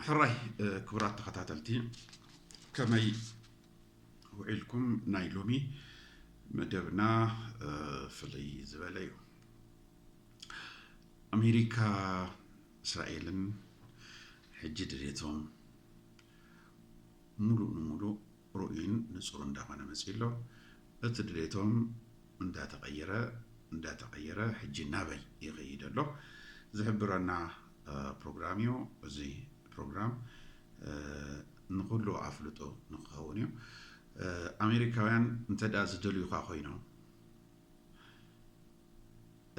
ሕራይ ክቡራት ተኸታተልቲ ከመይ ውዒልኩም ናይ ሎሚ መደብና ፍልይ ዝበለ እዩ ኣሜሪካ እስራኤልን ሕጂ ድሌቶም ሙሉእ ንሙሉእ ርኡይን ንጹር እንዳኾነ መጺኡ ኣሎ በቲ ድሌቶም እንዳተቐየረ እንዳተቐየረ ሕጂ ናበይ ይኸይድ ኣሎ ዝሕብረና ፕሮግራም እዩ እዚ ፕሮግራም ንኹሉ ኣፍልጦ ንክኸውን እዩ ኣሜሪካውያን እንተድኣ ዝደልዩኻ ኮይኖም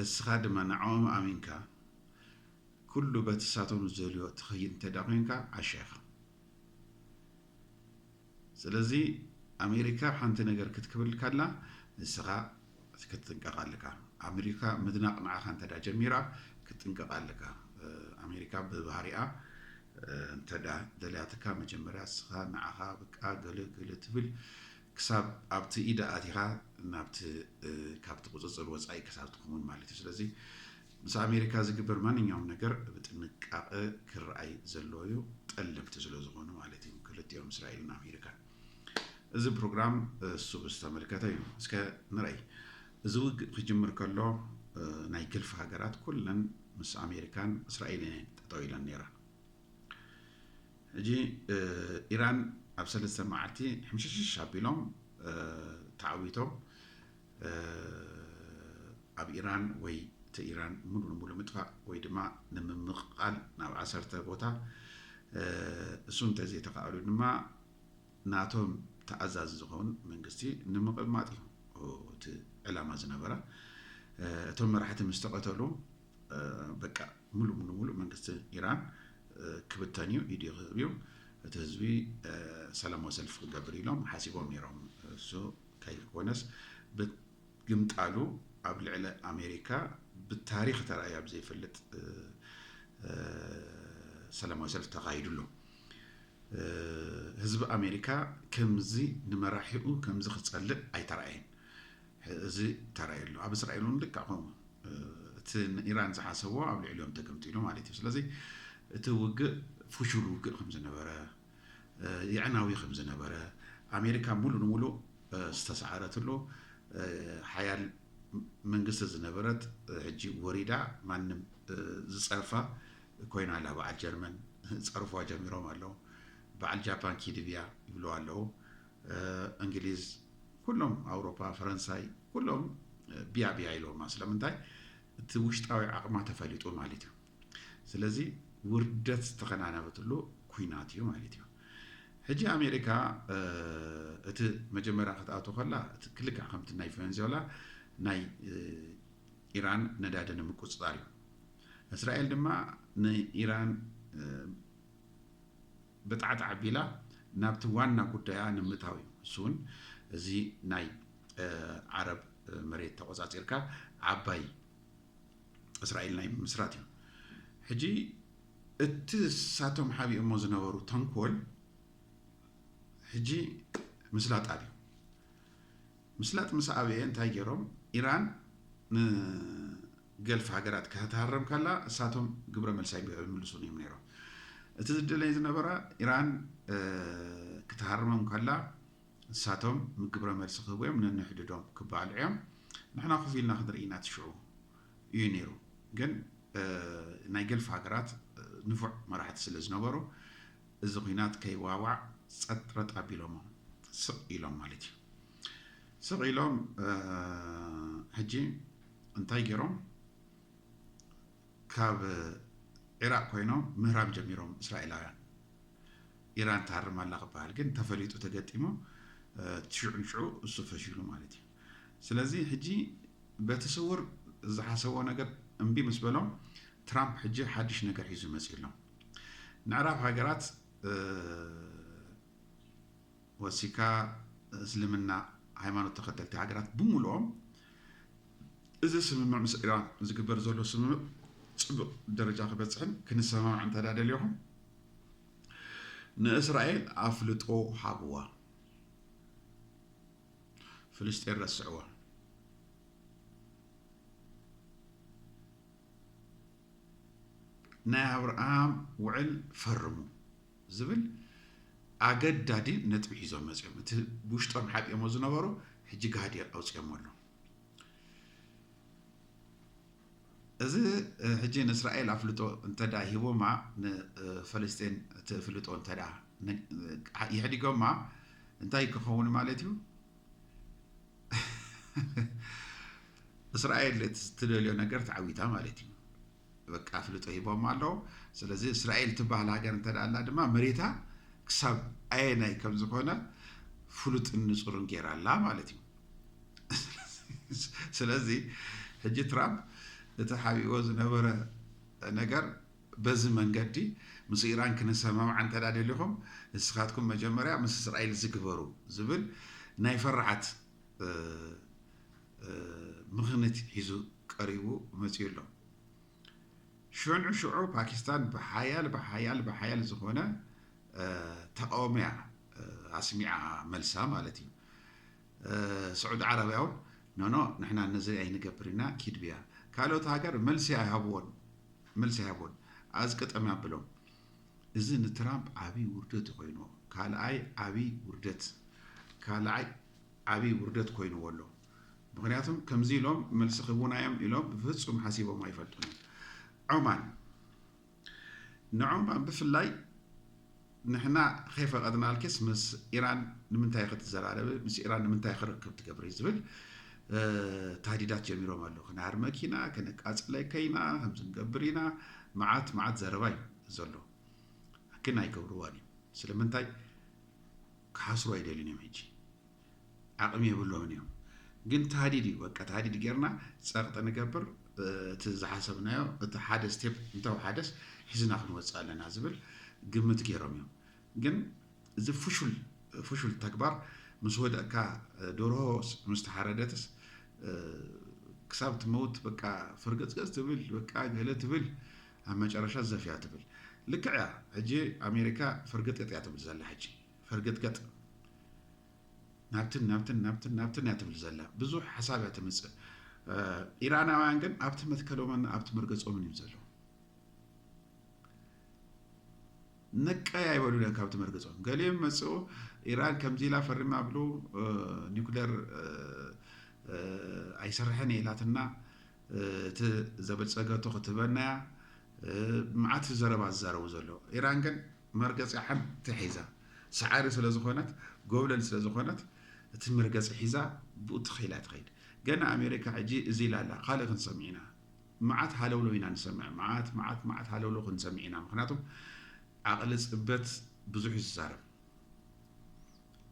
እስኻ ድማ ንዕኦም ኣሚንካ ኩሉ በቲ ሳቶም ዝደልዮ ትኸይድ እንተድኣ ኮይንካ ዓሻ ኢኻ ስለዚ ኣሜሪካ ሓንቲ ነገር ክትክብል ካላ ንስኻ ክትጥንቀቅ ኣለካ ኣሜሪካ ምድናቅ ንዓኻ እንተ ጀሚራ ክትጥንቀቅ ኣለካ ኣሜሪካ ብባህሪኣ እንተ ደልያትካ መጀመርያ ንስኻ ንዓኻ ብቃ ገለ ገለ ትብል ክሳብ ኣብቲ ኢዳ ኣቲኻ ናብቲ ካብቲ ቁፅፅር ወፃኢ ክሳብ ትኸውን ማለት እዩ ስለዚ ምስ ኣሜሪካ ዝግበር ማንኛውም ነገር ብጥንቃቐ ክረኣይ ዘለዎ እዩ፣ ጠለምቲ ስለዝኾኑ ማለት እዩ ክልቲኦም እስራኤልን ኣሜሪካን። እዚ ፕሮግራም እሱ ዝተመልከተ እዩ። እስከ ንረይ እዚ ውግእ ክጅምር ከሎ ናይ ገልፊ ሃገራት ኩለን ምስ ኣሜሪካን እስራኤልን እየን ጠጠው ኢለን ነይረን። ሕጂ ኢራን ኣብ ሰለስተ መዓልቲ ሕምሽሽሽ ኣቢሎም ተዓዊቶም ኣብ ኢራን ወይ ተኢራን ሙሉ ንሙሉ ምጥፋእ ወይ ድማ ንምምቕቓል ናብ ዓሰርተ ቦታ እሱ እንተዘይተኻእሉ ድማ ናቶም ተኣዛዚ ዝኸውን መንግስቲ ንምቕማጥ እዩ እቲ ዕላማ ዝነበረ እቶም መራሕቲ ምስ ተቐተሉ በቃ ሙሉ ንሙሉ መንግስቲ ኢራን ክብተን እዩ ኢድ ክህብ እዩ እቲ ህዝቢ ሰላማዊ ሰልፊ ክገብር ኢሎም ሓሲቦም ነይሮም እሱ ከይኮነስ ብግምጣሉ ኣብ ልዕሊ ኣሜሪካ ብታሪኽ ተራእዩ ኣብ ዘይፈልጥ ሰላማዊ ሰልፊ ተኻይዱ ኣሎ። ህዝቢ ኣሜሪካ ከምዚ ንመራሒኡ ከምዚ ክጸልእ ኣይተራእየን። እዚ ተራእዩ ኣሎ። ኣብ እስራኤል እውን ልክዕ ከምኡ እቲ ንኢራን ዝሓሰቦ ኣብ ልዕሊኦም ተገምጢሉ ማለት እዩ። ስለዚ እቲ ውግእ ፍሹል ውግእ ከም ዝነበረ የዕናዊ ከም ዝነበረ፣ ኣሜሪካ ሙሉእ ንሙሉእ ዝተሰዓረትሉ ሓያል መንግስቲ ዝነበረት ሕጂ ወሪዳ ማንም ዝጸርፋ ኮይና ኣላ። በዓል ጀርመን ጸርፏ ጀሚሮም ኣለዉ። በዓል ጃፓን ኪድብያ ይብልዋ ኣለዉ። እንግሊዝ ኩሎም ኣውሮፓ ፈረንሳይ ኩሎም ብያ ብያ ኢሎማ ስለምንታይ እቲ ውሽጣዊ ዓቕማ ተፈሊጡ ማለት እዩ። ስለዚ ውርደት ዝተከናነበትሉ ኩናት እዩ ማለት እዩ ሕጂ ኣሜሪካ እቲ መጀመርያ ክትኣቶ ከላ ክልክዕ ከምቲ ናይ ቨንዙዌላ ናይ ኢራን ነዳዲ ንምቁፅፃር እዩ እስራኤል ድማ ንኢራን ብጣዕጣዕ ኣቢላ ናብቲ ዋና ጉዳያ ንምታው እዩ እሱ እውን እዚ ናይ ዓረብ መሬት ተቆፃፂርካ ዓባይ እስራኤል ናይ ምምስራት እዩ። ሕጂ እቲ ንሳቶም ሓቢኦሞ ዝነበሩ ተንኮል ሕጂ ምስላጥ ኣብዩ። ምስላጥ ምስ ኣበየ እንታይ ገይሮም ኢራን ንገልፍ ሃገራት ክትሃረም ከላ እሳቶም ግብረ መልሲ ኣይምልሱን እዮም ነይሮም። እቲ ዝደለይ ዝነበራ ኢራን ክትሃርሞም ከላ ንሳቶም ግብረ መልሲ ክህቡ እዮም ነንሕድዶም ክበሃሉ እዮም ንሕና ኮፍ ኢልና ክንርኢ ኢና እቲ ሽዑ እዩ ነይሩ ግን ናይ ገልፍ ሃገራት ንፉዕ መራሕቲ ስለ ዝነበሩ እዚ ኩናት ከይዋዋዕ ጸጥ ረጥ ኣቢሎሞ ስቕ ኢሎም ማለት እዩ ስቕ ኢሎም ሕጂ እንታይ ገይሮም ካብ ዒራቅ ኮይኖም ምህራም ጀሚሮም እስራኤላውያን ኢራን ትሃርም ኣላ ክበሃል ግን ተፈሊጡ ተገጢሙ እቲ ሽዑ ንሽዑ እሱ ፈሺሉ ማለት እዩ። ስለዚ ሕጂ በቲ ስውር ዝሓሰብዎ ነገር እምቢ ምስ በሎም ትራምፕ ሕጂ ሓድሽ ነገር ሒዙ መጺኡ ኣሎ። ንዕራብ ሃገራት ወሲካ እስልምና ሃይማኖት ተኸተልቲ ሃገራት ብምሉኦም እዚ ስምምዕ ምስ ኢራን ዝግበር ዘሎ ስምምዕ ፅቡቅ ደረጃ ክበፅሕን ክንሰማማዕ እንተዳ ደሊኹም ንእስራኤል ኣፍልጦ ሃብዋ ፍልስጤን ረስዕዋ። ናይ ኣብርሃም ውዕል ፈርሙ ዝብል ኣገዳዲ ነጥቢ ሒዞም መፅኦም እቲ ውሽጦም ሓጢኦሞ ዝነበሩ ሕጂ ጋህዲ ኣውፅኦሞ ኣሎ እዚ ሕጂ ንእስራኤል ኣፍልጦ እንተዳ ሂቦማ ንፈለስጤን እቲ እፍልጦ እንተዳ የሕዲጎማ እንታይ ክኸውን ማለት እዩ እስራኤል እቲ ዝትደልዮ ነገር ተዓዊታ ማለት እዩ በቃ ኣፍልጦ ሂቦም ኣለዉ ስለዚ እስራኤል ትበሃል ሃገር እንተ ኣላ ድማ መሬታ ክሳብ ኣየናይ ከም ዝኾነ ፍሉጥን ንፁርን ገይራ ኣላ ማለት እዩ ስለዚ ሕጂ ትራምፕ እቲ ሓቢእዎ ዝነበረ ነገር በዚ መንገዲ ምስ ኢራን ክንሰማማዕ እንተ ደሊኹም ንስኻትኩም መጀመርያ ምስ እስራኤል እዚ ግበሩ ዝብል ናይ ፈራዓት ምኽንት ሒዙ ቀሪቡ መፅኡ ኣሎ። ሽዑ ሽዑ ፓኪስታን ብሓያል ብሓያል ብሓያል ዝኾነ ተቃውሞያ ኣስሚዓ መልሳ ማለት እዩ ስዑዲ ዓረብያ ውን ኖኖ ንሕና ነዚ ኣይንገብር ኢና ኪድ ብያ ካልኦት ሃገር መልሲ ኣይሃብዎን መልሲ ኣይሃብዎን ኣዝቅጠም ኣብሎም እዚ ንትራምፕ ዓብይ ውርደት ኮይንዎ ካልኣይ ዓብይ ውርደት ካልኣይ ዓብይ ውርደት ኮይንዎ ኣሎ ምክንያቱም ከምዚ ኢሎም መልሲ ክህቡና እዮም ኢሎም ብፍፁም ሓሲቦም ኣይፈልጡን እዮም ዑማን ንዖማ ብፍላይ ንሕና ከይፈቀድናልኪስ ምስ ኢራን ንምንታይ ክትዘራረቢ ምስ ኢራን ንምንታይ ክርክብ ትገብሪ ዝብል ታህዲዳት ጀሚሮም ኣለዉ ክነሃርመኪ ኢና ከነቃፅለከ ኢና ከምዚ ንገብር ኢና መዓት መዓት ዘረባ እዩ ዘሎ ግን ኣይገብርዋን እዩ ስለምንታይ ክሓስሩ ኣይደልዩን እዮም ሕጂ ዓቅሚ የብሎምን እዮም ግን ታህዲድ እዩ በቃ ታህዲድ ጌርና ጸቅጢ ንገብር እቲ ዝሓሰብናዮ እቲ ሓደ ስቴፕ እንተውሓደስ ሒዝና ክንወጽእ ኣለና ዝብል ግምት ጌሮም እዮም ግን እዚ ፍሹል ፍሹል ተግባር ምስ ወደቅካ ዶርሆ ምስ ተሓረደትስ ክሳብ ትመውት በቃ ፍርገጽገጽ ትብል በቃ ገለ ትብል ኣብ መጨረሻ ዘፍያ ትብል ልክዕ እያ ሕጂ ኣሜሪካ ፍርግጥጥ እያ ትብል ዘላ ሕጂ ፈርገጥገጥ ናብትን ናብትን ናብትን ናብትን እያ ትብል ዘላ ብዙሕ ሓሳብ እያ ትምፅእ ኢራናውያን ግን ኣብቲ መትከሎምን ኣብቲ መርገፆምን እዩ ዘለዉ ነቀይ ኣይበሉ ለን ካብቲ መርገፆም ገሊኦም መፅኡ ኢራን ከምዚ ኢላ ፈሪማ ብሉ ኒኩለር ኣይሰርሐን የላትና እቲ ዘበፀገቶ ክትበናያ መዓት ዘረባ ዝዛረቡ ዘሎ ኢራን ግን መርገጺኣ ሓንቲ ሒዛ ሳዓሪ ስለ ዝኾነት ጎብለል ስለ ዝኾነት እቲ መርገጺ ሒዛ ብኡ ትኽ ኢላ ትኸይድ ገና ኣሜሪካ ሕጂ እዚ ኢላ ኣላ ካልእ ክንሰምዕ ኢና ማዓት ሃለውለው ኢና ንሰምዕ ማዓት ማዓት ማዓት ሃለውለው ክንሰምዕ ኢና ምክንያቱ ዓቕሊ ጽበት ብዙሕ እዩ ዝዛረብ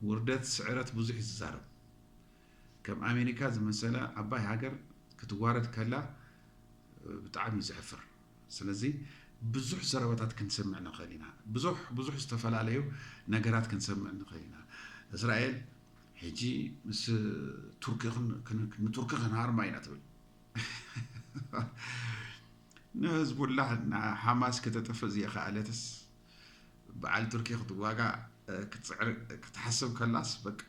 ውርደት ስዕረት ብዙሕ እዩ ዝዛረብ ከም ኣሜሪካ ዝመሰለ ዓባይ ሃገር ክትዋረድ ከላ ብጣዕሚ እዩ ዘሕፍር ስለዚ ብዙሕ ዘረባታት ክንሰምዕ ንኽእል ኢና። ብዙሕ ብዙሕ ዝተፈላለዩ ነገራት ክንሰምዕ ንኽእል ኢና። እስራኤል ሕጂ ምስ ቱርኪ ንቱርኪ ክንሃርማ ኢና ትብል። ንህዝቡላህ ንሓማስ ከተጥፍእ ዝየኸኣለትስ በዓል ቱርኪ ክትዋጋእ ክትፅዕር ክትሓስብ ከላስ በቃ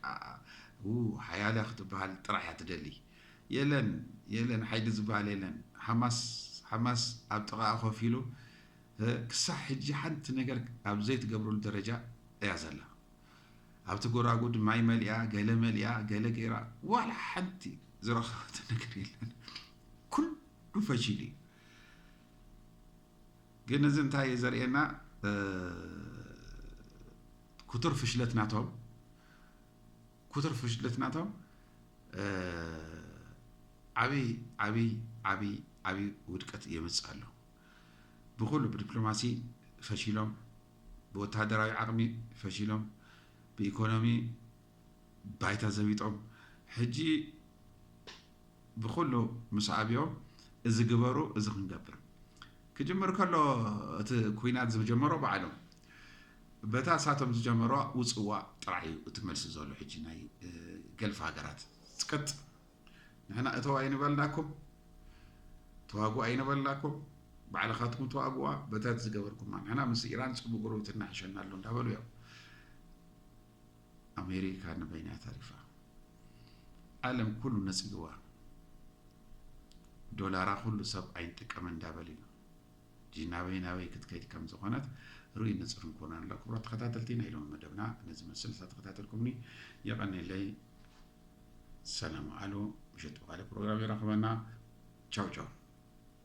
ሓያለ ክትበሃል ጥራሕ እያ ትደሊ። የለን የለን ሓይሊ ዝባሃል የለን ሓማስ ሓማስ ኣብ ጥቓኣ ኮፍ ኢሉ ክሳዕ ሕጂ ሓንቲ ነገር ኣብ ዘይትገብረሉ ደረጃ እያ ዘላ ኣብቲ ጎራጉድ ማይ መሊኣ ገለ መሊኣ ገለ ገይራ ዋላ ሓንቲ ዝረኸበቶ ነገር የለን ኩሉ ፈሺሉ እዩ ግን እዚ እንታይ እዩ ዘርእየና ክቱር ፍሽለት ናቶም ኩቱር ፍሽለት ናቶም ዓብይ ዓብይ ዓብይ ዓብይ ውድቀት የምፅእ ኣሎ። ብኹሉ ብዲፕሎማሲ ፈሺሎም፣ ብወተሃደራዊ ዓቕሚ ፈሺሎም፣ ብኢኮኖሚ ባይታ ዘቢጦም ሕጂ ብኹሉ ምስ ኣብዮ እዚ ግበሩ እዚ ክንገብር ክጅምር ከሎ እቲ ኩናት ዝጀመሮ ባዕሎም በታ ሳቶም ዝጀመሮ ውጽዋ ጥራይ እዩ እቲ መልሲ ዘሎ ሕጂ ናይ ገልፍ ሃገራት ጽቅጥ ንሕና እተው ኣይንበልናኩም ተዋግኡ ኣይንበልናኩም ባዕልኻትኩም ተዋግዋ በታት ዝገበርኩማ ንሕና ምስ ኢራን ጽቡቅ ጉርብትና ሕሸና ኣሎ እንዳበሉ እዮም ኣሜሪካ ንበይና ተሪፋ ዓለም ኩሉ ነጺግዋ ዶላራ ኩሉ ሰብ ኣይንጥቀመ እንዳበል እዩ እጂ ናበይ ናበይ ክትከይድ ከም ዝኾነት ርኡይ ንፅር ንኮና ኣሎ ክብሮ ተኸታተልቲ ናይ ሎሚ መደብና ነዚ መስል ዝተኸታተልኩምኒ የቐኒለይ ሰላም ኣሉ ምሸት ብካልእ ፕሮግራም ይረኽበና ቻው ቻው